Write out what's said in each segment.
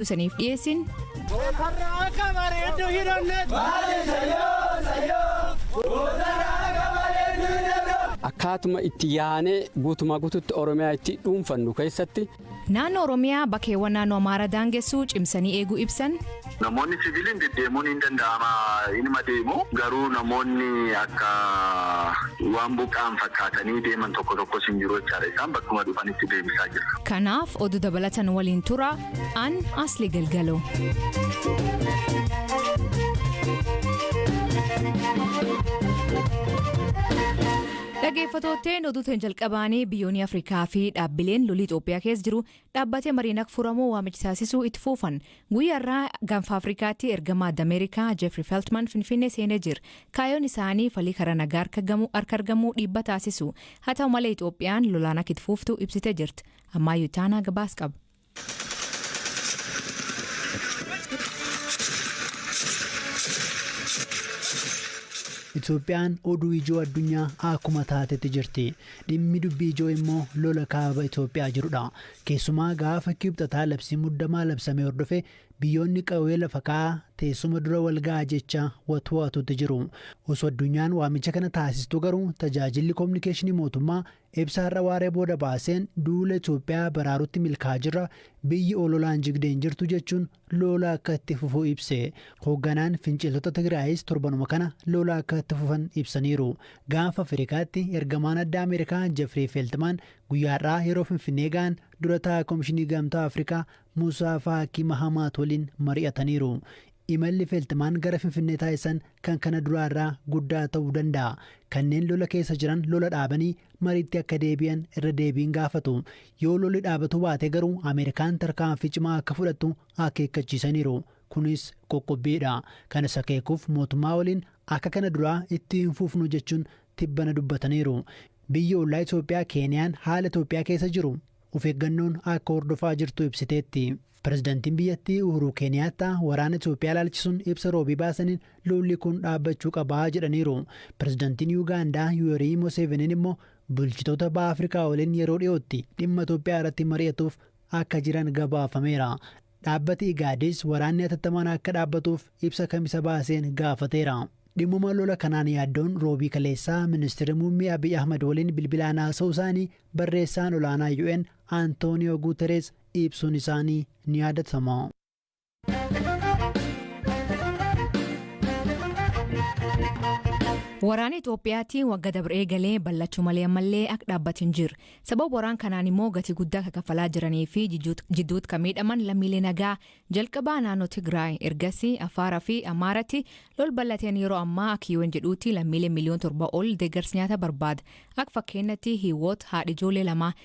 isaniif dhiyeessin. Gootarra akka bareeddu hin onne. Baale sayyoo sayyoo. Gootarra akka bareeddu hin onne. Akkaatuma itti yaanee guutumaa guututti Oromiyaa itti dhuunfannu keessatti. Naannoo Oromiyaa bakkeewwan naannoo Amaaraa daangessuu cimsanii eeguu ibsan. Namoonni siviiliin deddeemuun hin danda'ama inuma deemu garuu namoonni akka waan buqqa'an fakkaatanii deeman tokko tokkos hin jiru jechaadha isaan bakkuma dhufanitti deebisaa jirra. Kanaaf oduu dabalatan waliin tura. An Asli Galgalo. Dhaggeeffattootteen oduuteen jalqabaanii biyyoonni Afrikaa fi dhaabbileen lolii Itoophiyaa keessa jiru dhaabbatee mariin akka furamu waamicha taasisuu itti fuufan. Guyyaarraa gaanfa Afrikaatti ergamaa Ameerikaa Jeffrey Feltman Finfinnee seenee jira. Kaayoon isaanii falii karaa nagaa harka gamu- harka argamuu dhiibba taasisu. Haa ta'u malee Itoophiyaan lolaan akka itti fuuftu ibsitee jirti. Ammaayyu Taanaa gabaas qaba. Itoophiyaan oduu ijoo addunyaa akkuma taatetti jirti. Dhimmi dubbii ijoo immoo lola kaaba Itoophiyaa jirudha. Keessumaa gaafa Kibxataa labsii muddamaa labsame hordofe biyyoonni qawwee lafa kaa'aa teessuma dura wal ga'a jecha watwaatutti jiru. Osoo addunyaan waamicha kana taasistuu garuu tajaajilli kominikeeshinii mootummaa Ibsa har'a waaree booda baaseen duula Itoophiyaa baraarutti milkaa'aa jirra, biyyi ololaan jigde hin jirtu jechuun loola akka itti fufu ibse. Hoogganaan finciltoota Tigraayis torbanuma kana loola akka itti fufan ibsaniiru. Gaanfa Afrikaatti ergamaan addaa Ameerikaa Jefrii Feltmaan guyyaa har'aa yeroo Finfinnee ga'an dura taa'aa Komishinii Gamtaa Afrikaa Musaa Faakii Mahamaat waliin mari'ataniiru. Imalli Feltmaan gara Finfinnee taasisan kan kana duraa irraa guddaa ta'uu danda'a. Kanneen lola keessa jiran lola dhaabanii mariitti akka deebi'an irra deebiin gaafatu. Yoo lolli dhaabatuu baate garuu Ameerikaan tarkaanfii cimaa akka fudhattu akeekkachiisaniiru. Kunis qoqqobbiidha. Kanas akeekuuf mootummaa waliin akka kana duraa itti hin fufnu jechuun tibbana dubbataniiru. Biyyi ollaa Itoophiyaa Keeniyaan haala Itoophiyaa keessa jiru of eeggannoon akka hordofaa jirtu ibsiteetti. Pirezidantiin biyyattii Uhuruu Keeniyaattaa waraana Itoophiyaa ilaalchisuun ibsa Roobii baasaniin lolli kun dhaabbachuu qaba jedhaniiru. Pirezidantiin Yuugaandaa Yuwerii Moseeveniin immoo bulchitoota Baha Afrikaa waliin yeroo dhiyootti dhimma Itoophiyaa irratti mari'atuuf akka jiran gabaafameera. Dhaabbati Igaadis waraanni hatattamaan akka dhaabbatuuf ibsa Kamisa baaseen gaafateera. Dhimmuma lola kanaan yaaddoon Roobii kaleessaa Ministirri Muummee Abiy Ahmad waliin bilbilaan haasa'uu isaanii barreessaan olaanaa UN Antooniyoo Guuterees ibsuun isaanii ni yaadatama. Waraana Itoophiyaatti wagga dabre eegalee ballachuu malee ammallee akka dhaabbate hin jiru. Sababa waraan kanaan immoo gatii guddaa akka kaffalaa jiranii fi jidduutti kan miidhaman lammiilee nagaa jalqabaa naannoo Tigraay ergasii Afaaraa fi Amaaratti lol ballateen yeroo ammaa akka UN jedhuutti lammiilee miliyoon torba ol deeggarsa nyaata barbaada. Akka fakkeenyatti hiiwoot haadha ijoollee lama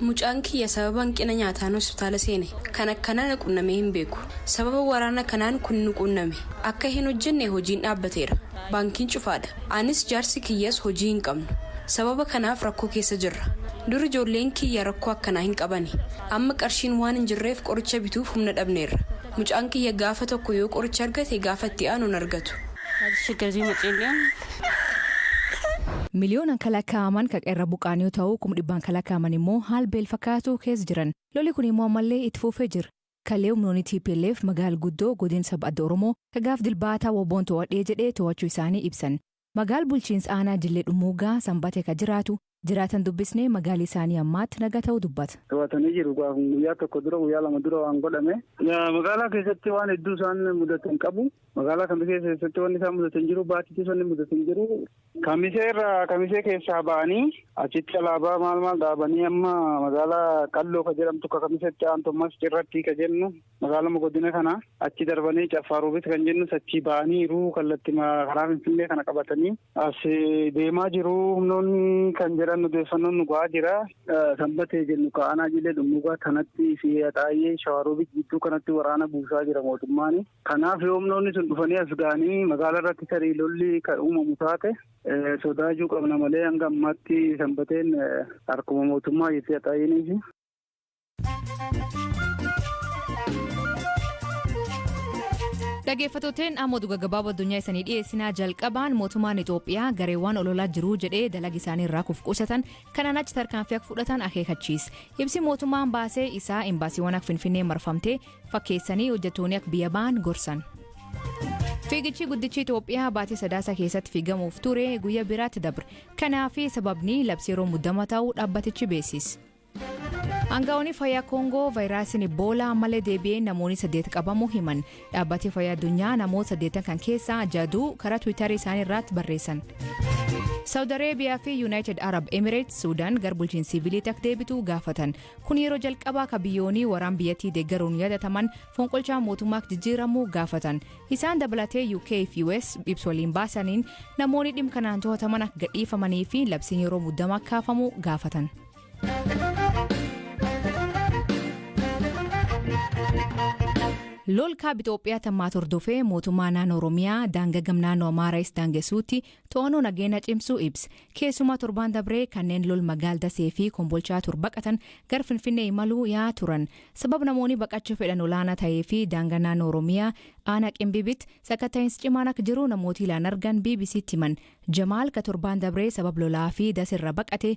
Mucaan kiyya sababa hanqina nyaataan hospitaala seene. Kan akkanaa na qunnamee hin beeku. Sababa waraana kanaan kun nu quunname. Akka hin hojjenne hojiin dhaabbateera. Baankiin cufaadha. Anis jaarsi kiyyas hojii hin qabnu. Sababa kanaaf rakkoo keessa jirra. Dur ijoolleen kiyya rakkoo akkanaa hin qabani. Amma qarshiin waan hin jirreef qoricha bituuf humna dhabneerra. Mucaan kiyya gaafa tokko yoo qoricha argate gaafa itti aanu hin argatu. Taatichi Gazii Maceelli'aan. Miliyoonan ka lakkaa'aman ka qe'erra buqqa'an yoo ta'u, kum dhibbaan ka lakkaa'aman immoo haal beel fakkaatu keessa jiran. Loli kun immoo ammallee itti fuufee jira. Kallee humnoonni tplf magaal guddoo godin sab adda Oromoo ka gaaf Dilbaataa wbo'n too'adhee jedhe too'achuu isaanii ibsan. Magaal bulchiinsa aanaa Jillee Dhummuuggaa Sanbate ka jiraatu Jiraatan dubbisne magaalli isaanii ammaatti nagaa ta'uu dubbata. To'atanii jiru gaa kun guyyaa tokko dura guyyaa lama dura waan godhame. Magaalaa keessatti waan hedduu isaan mudatan qabu. Magaalaa kamisee keessatti wanni isaan mudatan jiru baatiitis wanni mudatan jiru. Kamisee irraa kamisee keessaa ba'anii achitti alaabaa maal maal dhaabanii amma magaalaa qalloo ka jedhamtu ka kamisetti aantummas cirratti ka jennu Magaaluma godina kana achi darbanii Caffaa Roobit kan jennus achii ba'aniiru kallatti karaa Finfinnee kana qabatanii as deemaa jiru humnoonni kan jedhan odeeffannoon nu ga'aa jira. Sanbatee jennu ka'anaa jilee dhummuugaa kanatti fi haxaayyee Shawaa Roobit jidduu kanatti waraana buusaa jira mootummaan. Kanaaf yoo humnoonni sun dhufanii as ga'anii magaalaa irratti tarii lolli kan uumamu taate sodaachuu qabna malee hanga ammaatti sanbateen harkuma mootummaa jettee haxaayyeenii fi Dhaggeeffattootni amma oduu gaggabaaboo addunyaa isanii dhiyeessinaa jalqabaan mootummaan Itoophiyaa gareewwan ololaa jiruu jedhee dalaga isaanii irraa kuf qusatan kanaan achi tarkaanfii akka fudhatan akeekachiise. Ibsi mootummaan baasee isaa imbaasiiwwan akka Finfinnee marfamtee fakkeessanii hojjettoonni akka biyya ba'an gorsan. Fiigichi guddichi Itoophiyaa baatii sadaasa keessatti fiigamuuf ture guyyaa biraatti dabre. Kanaaf sababni labsii yeroo muddama ta'uu dhaabbatichi beeksise. Aangawoonni fayyaa Koongoo vaayiraasiin Iboolaa ammallee deebi'ee namoonni saddeet qabamuu himan. Dhaabbatni fayyaa addunyaa namoota saddeetan kan keessaa jaduu karaa Tiwiitarii isaanii irratti barreessan. Saawud Areebiyaa fi Yuunaayitid Arab Emireets Suudaan gara bulchiinsa siviiliitti akka deebitu gaafatan. Kun yeroo jalqabaa kan biyyoonni waraan biyyattii deeggaruun yaadataman fonqolchaa mootummaa akka jijjiiramu gaafatan. Isaan dabalatee UK fi US ibsa waliin baasaniin namoonni dhimma kanaan to'ataman akka gadhiifamanii fi labsiin yeroo muddamaa kaafamu gaafatan. Lool kaab Itoophiyaa tammaat hordofee mootummaa naannoo Oromiyaa daanga gam naannoo Amaaraayis daangessuutti to'annoo nageenya cimsuu ibsa. Keessumaa torbaan dabree kanneen lol magaal dasee fi kombolchaa tur baqatan gar Finfinnee imaluu yaa turan. Sabab namoonni baqachuu fedhan olaanaa ta'ee fi daanga naannoo Oromiyaa aanaa Qimbibitti sakatta'iinsi cimaan akka jiru namooti ilaan argan BBCtti himan. Jamaal ka torbaan dabree sabab lolaa fi dasirra baqate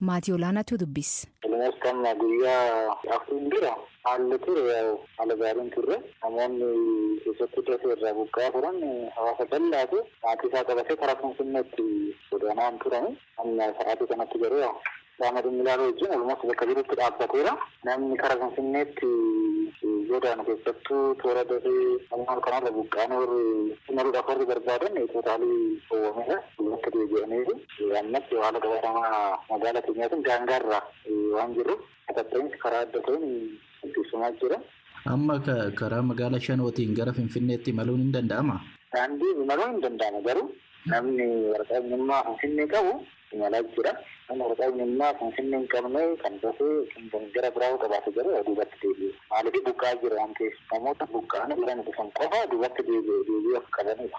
Maatii Olaanaatu dubbis. Akkam guyyaa afuriin dura haalli ture yaa'u haala gaariin turre. Namoonni keessattuu Dasee irraa buqqa'aa turan hawaasa bal'aatu maatii isaa qabatee karaa Finfinneetti godaanaan turani. Amma sa'aatii kanatti garuu qaama dhimmi ilaalu wajjin almost bakka jirutti dhaabbateera. Namni kara Finfinneetti godaanu keessattuu toora Dasee Amunaal kanarra buqqa'anii warri imaluudhaaf warri barbaadan tootaalii dhowwameera. Duubatti deebi'aniiru. Ammatti haala qabatamaa magaala keenyaatiin daangaarra waan jirruuf sakatta'iinsi karaa adda ta'een gaggeeffamaa jira. Amma karaa magaala Shanootiin gara Finfinneetti imaluun hin danda'amaa? Daandiin imaluun hin danda'amu garuu namni waraqaa eenyummaa Finfinnee qabu imalaa jira. Namni waraqaa eenyummaa Finfinnee hin qabne kan dafee yookiin kan gara biraa yoo qabaate garuu duubatti deebi'e. Maaliif buqqa'aa jiru waan ta'eef. Namoota buqqa'anii gara nu dhufan qofa duubatti deebi'e deebi'uu akka qabanidha.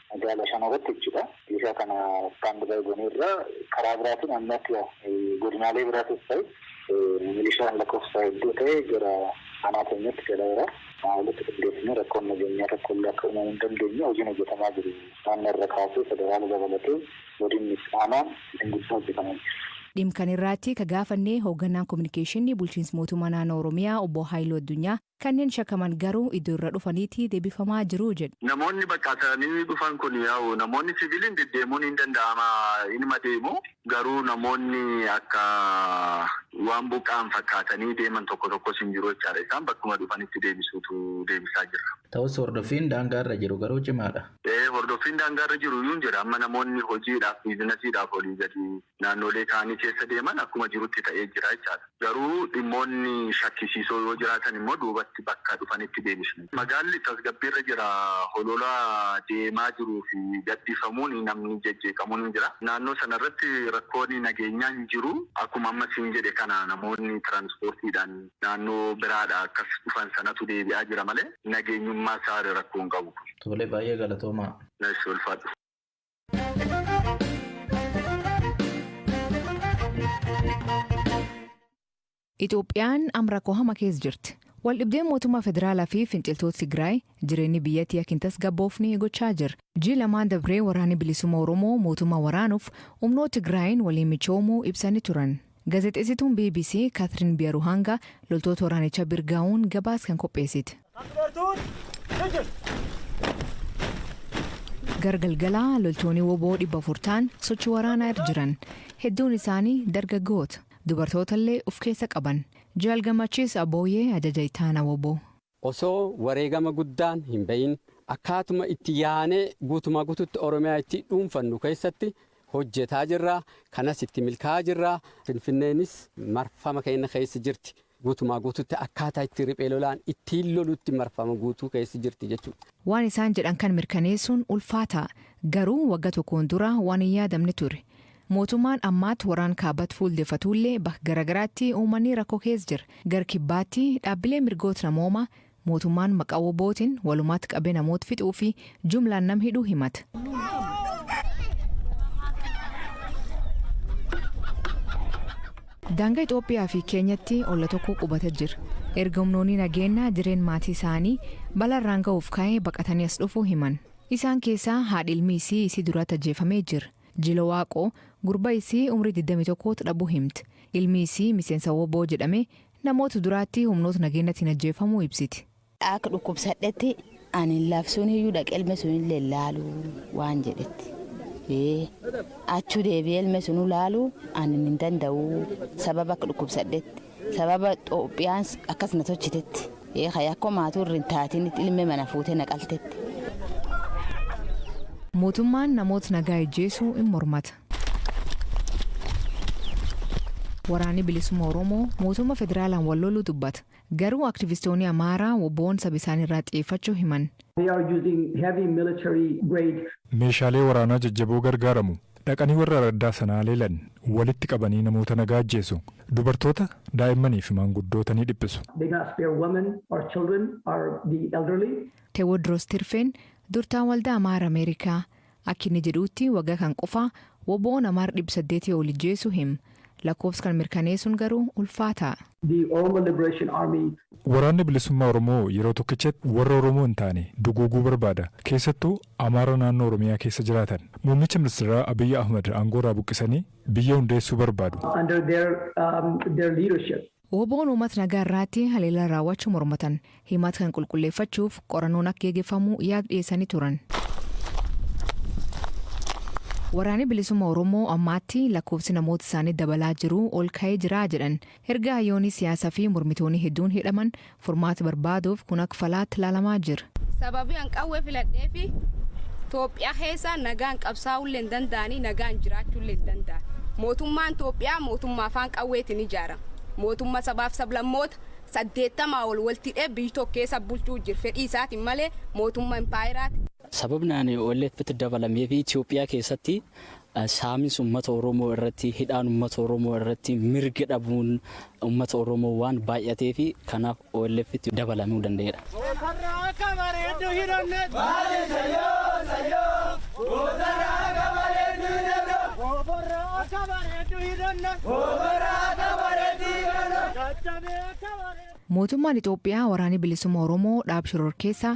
Magaala shanoo irratti jechuudha. Meeshaa kana stand by goneerra. Karaa biraatiin amma akka godinaalee biraatis ta'e milishaan lakkoofsa hedduu ta'e gara aanaa keenyatti galaera. Kanaa olitti qindeessinee rakkoon nageenyaa tokko illee akka uumamu hin dandeenye hojiin hojjetamaa jiru naannoo irra kaasee federaala dabalatee godinni fi aanaan hojiin guddaa hojjetamaa jira. Dhim kan irraatti ka gaafannee hooggannaan kominikeeshinni bulchiins mootummaa naannoo Oromiyaa obbo Haayiluu Addunyaa Kanneen shakaman garuu iddo irra dhufaniiti debifamaa jiru jedhu. Namoonni baqatanii dhufan kun yaa'u namoonni siviliin deddeemuun hin danda'ama inuma deemu garuu namoonni akka waan buqqa'an fakkaatanii deeman tokko tokkos hin jiru jechaadha. Isaan bakkuma dhufanitti deebisuutu deebisaa jirra. Ta'us hordoffiin daangaa irra jiru garuu cimaadha. Ee hordoffiin daangaa irra jiru iyyuu hin jira. Amma namoonni hojiidhaaf biizinasiidhaaf olii gadi naannoolee kaanii keessa deeman akkuma jirutti ta'ee jira jechaadha. Garuu dhimmoonni shakkisiisoo yoo jiraatan immoo duubatti bakka dhufanitti deebisna. Magaalli tasgabbiirra jira. Holola deemaa jiruu fi gadhiifamuun namni jejjeeqamuun hin jira. Naannoo sana irratti rakkoon nageenyaa hin jiru. Akkuma amma siin jedhe kana namoonni tiraansipoortiidhaan naannoo biraadhaa akkas dhufan sanatu deebi'aa jira malee nageenyummaa isaa rakkoo hin qabu. Tole, baay'ee galatoomaa. Eshi ulfaadhu. Itoophiyaan am rakkoo hama keessa jirti. Waldhibdeen mootummaa federaalaa fi finciltoota Tigraay jireenyi biyyattii akka hin tasgabboofne gochaa jira. Jii lamaan dabree waraanni bilisummaa Oromoo mootummaa waraanuuf humnoota Tigraayiin waliin michoomuu ibsanii turan. Gazexeessituun bbc Katrin Biyaruhanga loltoota waraanicha bir gahuun gabaas kan qopheessite. Gara galgalaa loltoonni woboo 400 ta'an sochii waraanaa irra jiran. Hedduun isaanii dargaggoota. Dubartoota illee of keessa qaban. Jaal Gammachiis Abooyee ajaja ittaana woboo. Osoo wareegama guddaan hin ba'iin akkaatuma itti yaanee guutumaa guutuutti Oromiyaa itti dhuunfannu keessatti hojjetaa jirra. Kanas itti milkaa'aa jirra. Finfinneenis marfama keenya keessa jirti. Guutumaa guutuutti akkaataa itti riphee lolaan ittiin lolutti marfama guutuu keessa jirti jechuudha. Waan isaan jedhan kan mirkaneessuun ulfaataa. Garuu wagga tokkoon dura waan hin yaadamne ture. Mootumaan ammaat waraan kaabat fuul defatuullee bak garagaraatti uumanii rakko kees jir. Gar kibbaatti dhaabbilee mirgoot namooma mootumaan maqa wobootin walumaat qabe namoot fixuu fi jumlaan nam hidhu himat. Daanga Ixoophiyaa fi Keenyatti olla tokko qubata jir. Erga humnoonni nageenna jireen maatii isaanii bala irraan ga'uuf ka'ee baqatanii as dhufuu himan. Isaan keessaa haadhi ilmi isii isii duratti ajjeefamee jir. Jilo Waaqoo, gurba isii umrii 21t dhabuu himti. Ilmi isii miseensa wbo jedhamee namoota duraatti humnoota nageennatiin ajjeefamuu ibsiti. Akka dhukkubsadhetti ani labsuuniyyuu dhaqee ilme sunillee hin laalu waan jedhetti. Ee, achuu deebi'ee ilme sunuu laaluu ani hin danda'u sababa akka dhukkubsadhetti. Sababa Xoophiyaan akkas na tolchitetti. Ee ka yakko maatuu irra hin taatinitti ilme mana fuutee na qaltetti. Mootummaan namoota nagaa ijjeesuu in mormata. Waraanni Bilisumma Oromoo mootumma federaalaan wal loluu dubbata. Garuu aktivistooni Amaaraa wbo'n saba isaanii irraa xiyeeffachuu himan. They are using heavy military grade. Meeshaalee waraanaa jajjaboo gargaaramu. Dhaqanii warra araddaa sanaa leelan. Walitti qabanii namoota nagaa ajjeesu. Dubartoota, daa'immanii fi maanguddoota ni dhiphisu. They not spare women or children or the elderly. Tewodros Tirfeen, durtaan waldaa Amaara Ameerikaa, Akki inni jedhuutti wagga kan qofaa wbo namaar 800 ol ijjeesuu him. Lakkoofs kan mirkaneesuun garuu ulfaataa. The Oromo Liberation Army. Waraanni Bilisummaa Oromoo yeroo tokkichatti warra Oromoo hin taane duguuguu barbaada. Keessattuu Amaara naannoo Oromiyaa keessa jiraatan. Muummicha Ministeeraa Abiy Ahmad aangoorraa buqqisanii biyya hundeessuu barbaadu. under their their leadership. Wbo'n uumat nagaa irraatti haleellaa raawwachu mormatan himat kan qulqulleeffachuuf qorannoon akk geegeffamu yaag dhiyeessani turan. Waraani Bilisumma Oromoo ammaatti lakkoofsi namoota isaanii dabalaa jiruu ol ka'ee jiraa jedhan. Erga hayyooni siyaasa fi mormitooni hedduun hidhaman Furmaati barbaaduuf kun ak falaatti laalamaa jir. Sababii an qawwee filadheefi Toophiyaa keessa nagaan qabsaa'uullee hin danda'anii nagaan jiraachuullee hin danda'an. Mootummaan Toophiyaa mootummaa afaan qawweetiin ijaarame. Mootumma sabaaf sablammoota 80 ol walti hidhee biyy tokko keessa bulchuu jir fedhii isaatiin malee mootumma impaayeraati. Sababni ani OLF'tti dabalameefi Itoophiyaa keessatti Saaminsi ummata Oromoo irratti, hidhaan ummata Oromoo irratti, mirga dhabuun ummata Oromoo waan baay'ateefi kanaaf OLFtti dabalamuu danda'eera. Gootarra akka bareeddu hin onnetu. Maali sayyoo sayyoo. Gootarra akka bareeddu hin onnetu. Goofarra akka bareeddu hin onnetu. Goofarra akka bareeddu hin onnetu. Caccabee akka bareeddu. Mootummaan Itoophiyaa Waraanni Bilisumma Oromoo dhaab shororkeessaa